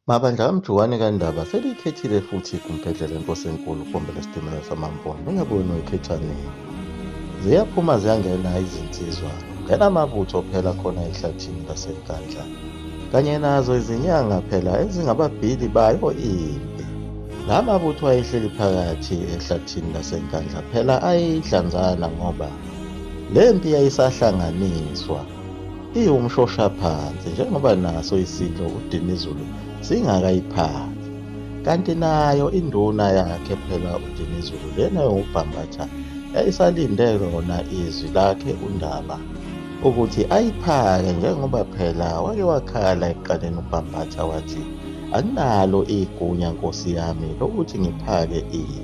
Mabandla kamjukwane kandaba seliyikhethile futhi igumbhedlela inkosi enkulu kombela sitimela samambona ingabe wena uyikhetha nini ziyaphuma ziyangena izinsizwa ngenamabutho phela khona ehlathini lasenkandla kanye nazo izinyanga phela ezingababhili bayo impi la mabutho ayehleli phakathi ehlathini lasenkandla phela ayidlanzana ngoba le mpi yayisahlanganiswa iwumshoshaphansi njengoba naso isidlo uDinizulu singakayiphansi kanti nayo induna yakhe phela uDinizulu lena yokubhambatha yayisalinde lona izwi lakhe uNdaba ukuthi ayiphake njengoba phela wake wakhala ekuqaleni uBhambatha wathi anginalo igunya nkosi yami lokuthi ngiphake ipi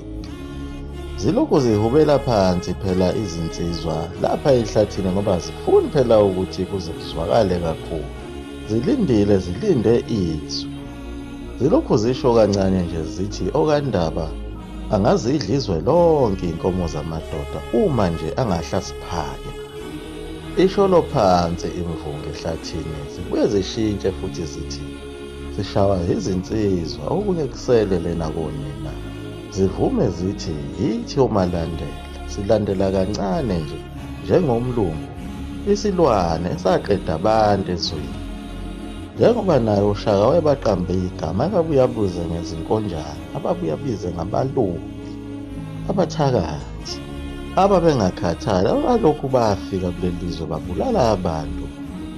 zilokhu zihubela phansi phela izinsizwa lapha ehlathini ngoba zifuni phela ukuthi kuze kuzwakale kakhulu zilindile zilinde izwi zilokhu zisho kancane nje zithi okandaba angazidla izwe lonke inkomo zamadoda uma nje angahla siphake isholo phansi imvunge ehlathini zibuye zishintshe futhi zithi sishawa izinsizwa okunye kusele lena konina Zivume zithi yithi omalandela silandela kancane nje njengomlungu isilwane esaqeda abantu ezweni. Njengoba naye uShaka wayebaqambe igama ababuye abuze ngezinkonjane ababuye abize ngabalungu abathakathi ababengakhathali abalokhu bafika kuleli zwe babulala abantu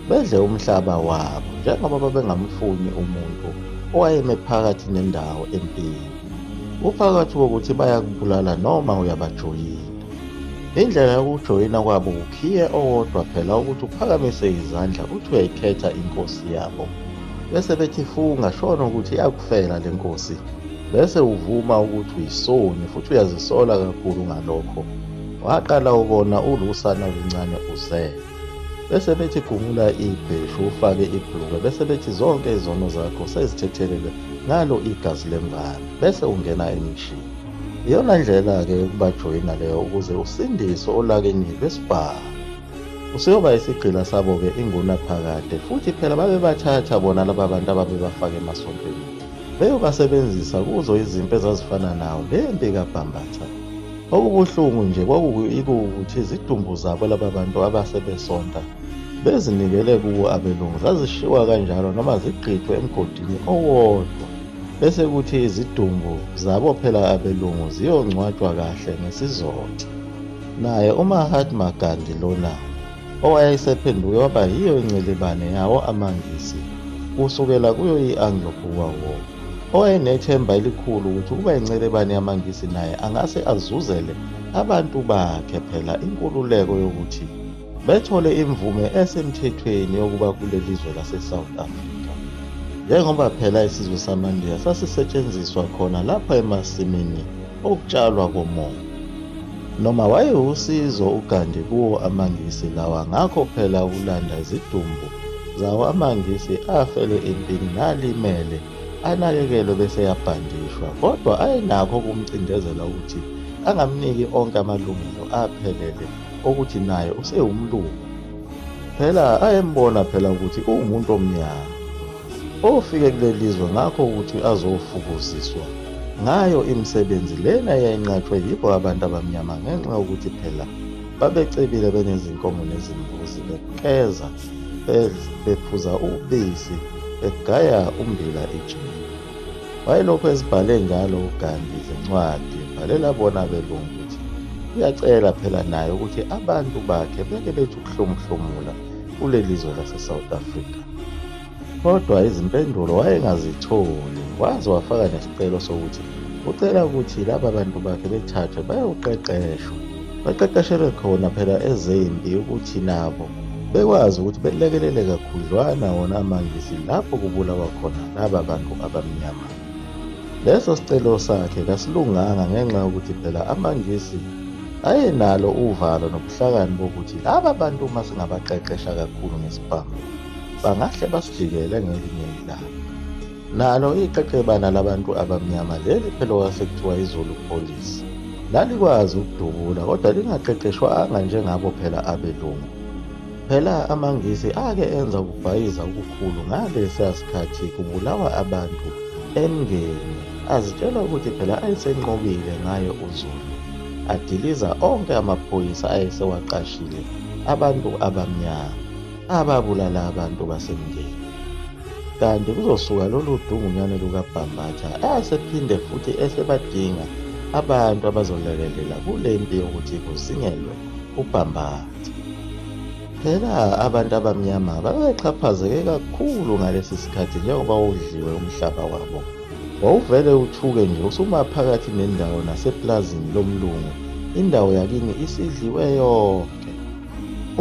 bedle umhlaba wabo njengoba babengamfuni umuntu owayeme phakathi nendawo empini. Uphakathi kokuthi bayakubulala noma uyabajoyina. Indlela yokujoyina kwabo ukhiye owodwa phela ukuthi uphakamise izandla uthi uyayikhetha inkosi yabo. Bese bethi funga shona ukuthi yakufela le nkosi. Bese uvuma ukuthi uyisoni futhi uyazisola kakhulu ngalokho. Waqala ubona ulusana oluncane uzele. bese bethi gumula ibheshu ufake ibhulukwe bese bethi zonke izono zakho sezithethelele ngalo igazi lemvana bese ungena emishini iyona ndlela-ke yokubajoyina leyo ukuze usindiswe olakeni lwesibhamu useyoba isigqila sabo-ke inguna phakade futhi phela babebathatha bona laba bantu ababebafaka emasontweni beyobasebenzisa kuzo izimpi ezazifana nawo le mpi kabhambatha Okubuhlungu nje kwakukuthi izidumbu zabo laba bantu abase besonta bezinikele kuwo abelungu zazishiwa kanjalo noma zigqithwe emgodini owodwa bese kuthi izidumbu zabo phela abelungu ziyongcwatshwa kahle ngesizotha naye umahatma gandhi lona owayesephenduke waba yiyo incilibane yawo amangisi kusukela kuyo i-anglo-boer war owayenethemba elikhulu ukuthi ukuba incelebane yamangisi naye angase azuzele abantu bakhe phela inkululeko yokuthi bethole imvume esemthethweni yokuba kuleli zwe lase-south africa njengoba phela isizwe samandiya sasisetshenziswa khona lapha emasimini ukutshalwa komongo. Noma wayewusizo uGandhi kuwo amaNgisi lawa ngakho phela ukulanda izidumbu zawo amaNgisi afele empini nalimele anakekelwe bese eyabhandishwa kodwa ayenakho ukumcindezela ukuthi angamniki onke amalungelo aphelele okuthi naye usewumlungu phela ayembona phela ukuthi uwumuntu omnyama ofike kulelizwe ngakho ukuthi azofukuziswa ngayo imisebenzi lena yayinqatshwe yibo abantu abamnyama ngenxa yokuthi phela babecebile benezinkomo nezimbuzi bekeza bephuza ubisi begaya umbila ejini wayelokhu ezibhale njalo ugandi izincwadi ebhalela bona belungu ukuthi uyacela phela naye ukuthi abantu bakhe beke bethi ukuhlomuhlomula kulelizwe lase South Africa kodwa izimpendulo wayengazitholi waze wafaka nesicelo sokuthi ucela ukuthi laba bantu bakhe bethathwe bayoqeqeshwa baqeqeshelwe khona phela ezempi ukuthi nabo bekwazi ukuthi belekelele kakhudlwana wona amangisi lapho kubulawa khona laba bantu abamnyama leso sicelo sakhe kasilunganga ngenxa yokuthi phela amangisi ayenalo uvalo nobuhlakani bokuthi laba bantu uma singabaqeqesha kakhulu ngesibhamu bangahle basijikele ngelinye ilanga nalo iqeqebana labantu abamnyama leli phela owasekuthiwa izulu police lalikwazi ukudubula kodwa lingaqeqeshwanga njengabo phela abelungu Phela amaNgisi ake enza ukubhayiza okukhulu ngalesiya sikhathi kubulawa abantu emngeni, azitshela ukuthi phela ayesenqobile ngayo uZulu, adiliza onke amaphoyisa ayesewaqashile abantu abamnyama ababulala abantu basemngeni. Kanti kuzosuka lolu dungunyane lukabhambatha asephinde futhi esebadinga abantu abazolekelela kule mpi yokuthi kuzingelwe ubhambatha. Phela abantu abamnyama babexhaphazeke kakhulu ngalesi sikhathi njengoba udliwe umhlaba wabo. Wawuvele uthuke nje usuma phakathi nendawo naseplazini lomlungu, indawo yakini isidliwe yonke.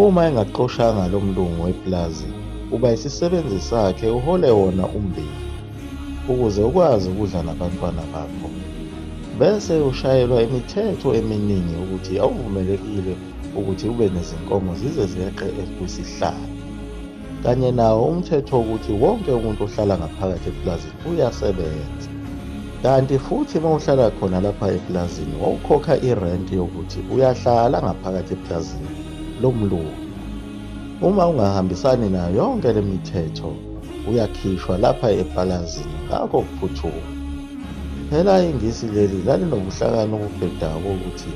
Uma engaxoshanga lo mlungu weplazi, uba isisebenzi sakhe uhole wona ummbila ukuze ukwazi ukudla nabantwana bakho. Bese ushayelwa imithetho eminingi ukuthi awuvumelekile ukuthi ube nezinkomo zize zeqe ekwisihlalo kanye nawo umthetho wokuthi wonke umuntu ohlala ngaphakathi epulazini uyasebenza kanti futhi uma uhlala khona lapha epulazini wawukhokha irenti yokuthi uyahlala ngaphakathi epulazini lomlungu uma ungahambisani nayo yonke le mithetho uyakhishwa lapha epulazini ngakho kuphuthuma phela ingisi leli lalinobuhlakani obubhedayo bokuthi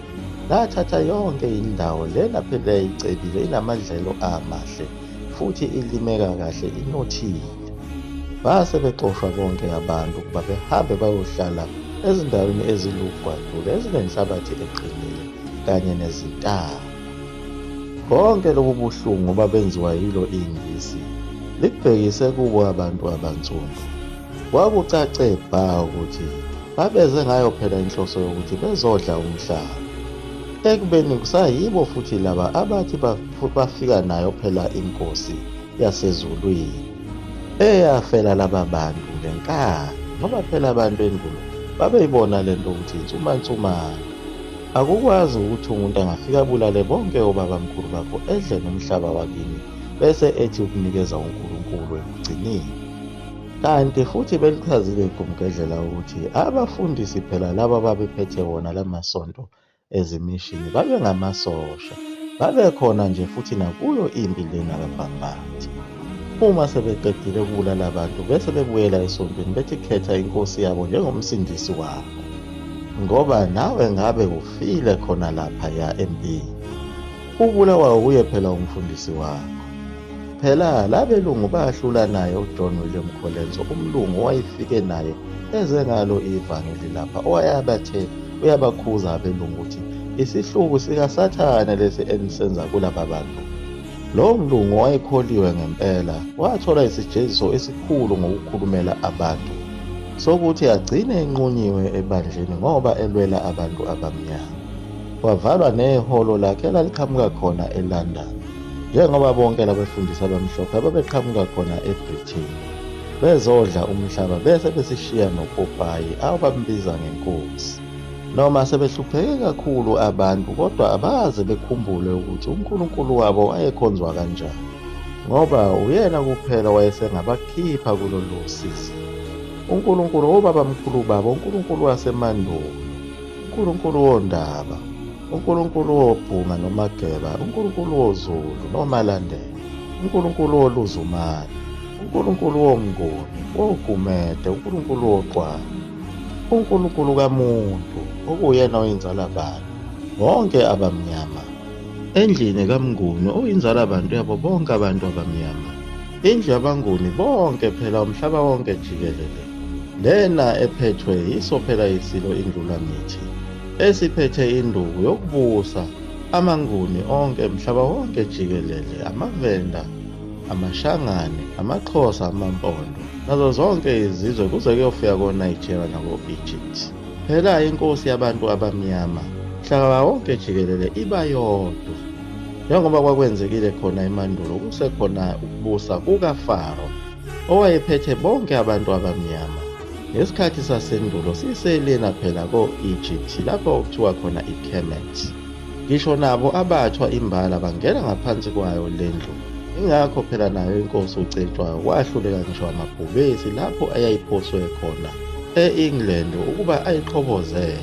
Lathatha yonke indawo lena phela icebile inamadlelo amahle futhi ilimeka kahle inothile. Base bexoshwa bonke abantu ukuba behambe bayohlala ezindaweni ezilugwadule ezinenhlabathi eqinile kanye nezintaba. Konke lobu buhlungu babenziwa yilo ingisi likubhekise kubo abantu abansundu. Kwakucace bha ukuthi babeze ngayo phela inhloso yokuthi bezodla umhlaba. Ekubeni kusayibo futhi laba abathi bafika nayo phela inkosi yasezulwini eyafela laba bantu ngenkani ngoba phela abantu endulo babeyibona le nto ukuthi insumansumane akukwazi ukuthi umuntu angafika abulale bonke obabamkhulu bakho edle nomhlaba wakini bese ethi ukunikeza unkulunkulu ekugcineni Kanti futhi belichazile igumgedlela ukuthi abafundisi phela laba babephethe wona lamasonto ezimishini babengamasosha babekhona nje futhi nakuyo impi lena kabhambathi uma sebeqedile ukubulala abantu bese bebuyela esontweni bethi khetha inkosi yabo njengomsindisi wabo ngoba nawe ngabe ufile khona lapha ya empini Ubulawayo kuye phela umfundisi wakho. Phela labelungu bahlula naye uJohn William Colenso umlungu owayefike naye eze ngalo ivangeli lapha owayabathe uyabakhuza abelungu ukuthi isihluku sikasathane lesi enisenza kulaba bantu. Lowo mlungu owayekholiwe ngempela wathola isijeziso esikhulu ngokukhulumela abantu sokuthi agcine enqunyiwe ebandleni ngoba elwela abantu abamnyama. Wavalwa nehholo lakhe elaliqhamuka khona eLondon, njengoba bonke labefundisi abamhlophe ababeqhamuka khona eBritain bezodla umhlaba bese besishiya nopopayi abambiza ngenkosi. Noma sebehlupheke kakhulu abantu kodwa abaze bekhumbule ukuthi uNkulunkulu wabo wayekhonzwa kanjani ngoba uyena kuphela wayesengabakhipha kulolu sizi. UNkulunkulu wobabamkhulu babo, uNkulunkulu wasemandulo. uNkulunkulu wondaba uNkulunkulu wobhunga nomageba uNkulunkulu wozulu nomalandela uNkulunkulu woluzumane uNkulunkulu womnguni wogumede uNkulunkulu woqwana uNkulunkulu kamuntu okuyena oyinzala bani bonke abamnyama endlini kamnguni oyinzala bantu yabo bonke abantu abamnyama Indlu yabanguni bonke phela umhlaba wonke jikelele. Lena ephethwe yiso phela isilo indlula ngithi. Esiphethe induku yokubusa amanguni onke mhlaba wonke jikelele amavenda amashangane amaxhosa amampondo nazo zonke izizwe kuze kuyofika konigeria nako-egypt phela inkosi yabantu abamnyama mhlaba wonke jikelele iba yodwa Njengoba kwakwenzekile khona emandulo kusekhona ukubusa kukaFaro owayephethe bonke abantu abamnyama. Ngesikhathi sasendulo siselena phela ko-Egypt lapho okuthiwa khona iKemet. Ngisho nabo abathwa imbala bangena ngaphansi kwayo le ndlu. Ingakho phela nayo inkosi uCetshwayo wahluleka ngisho amabhubesi lapho ayayiphoswe khona e-England ukuba ayiqhobozele.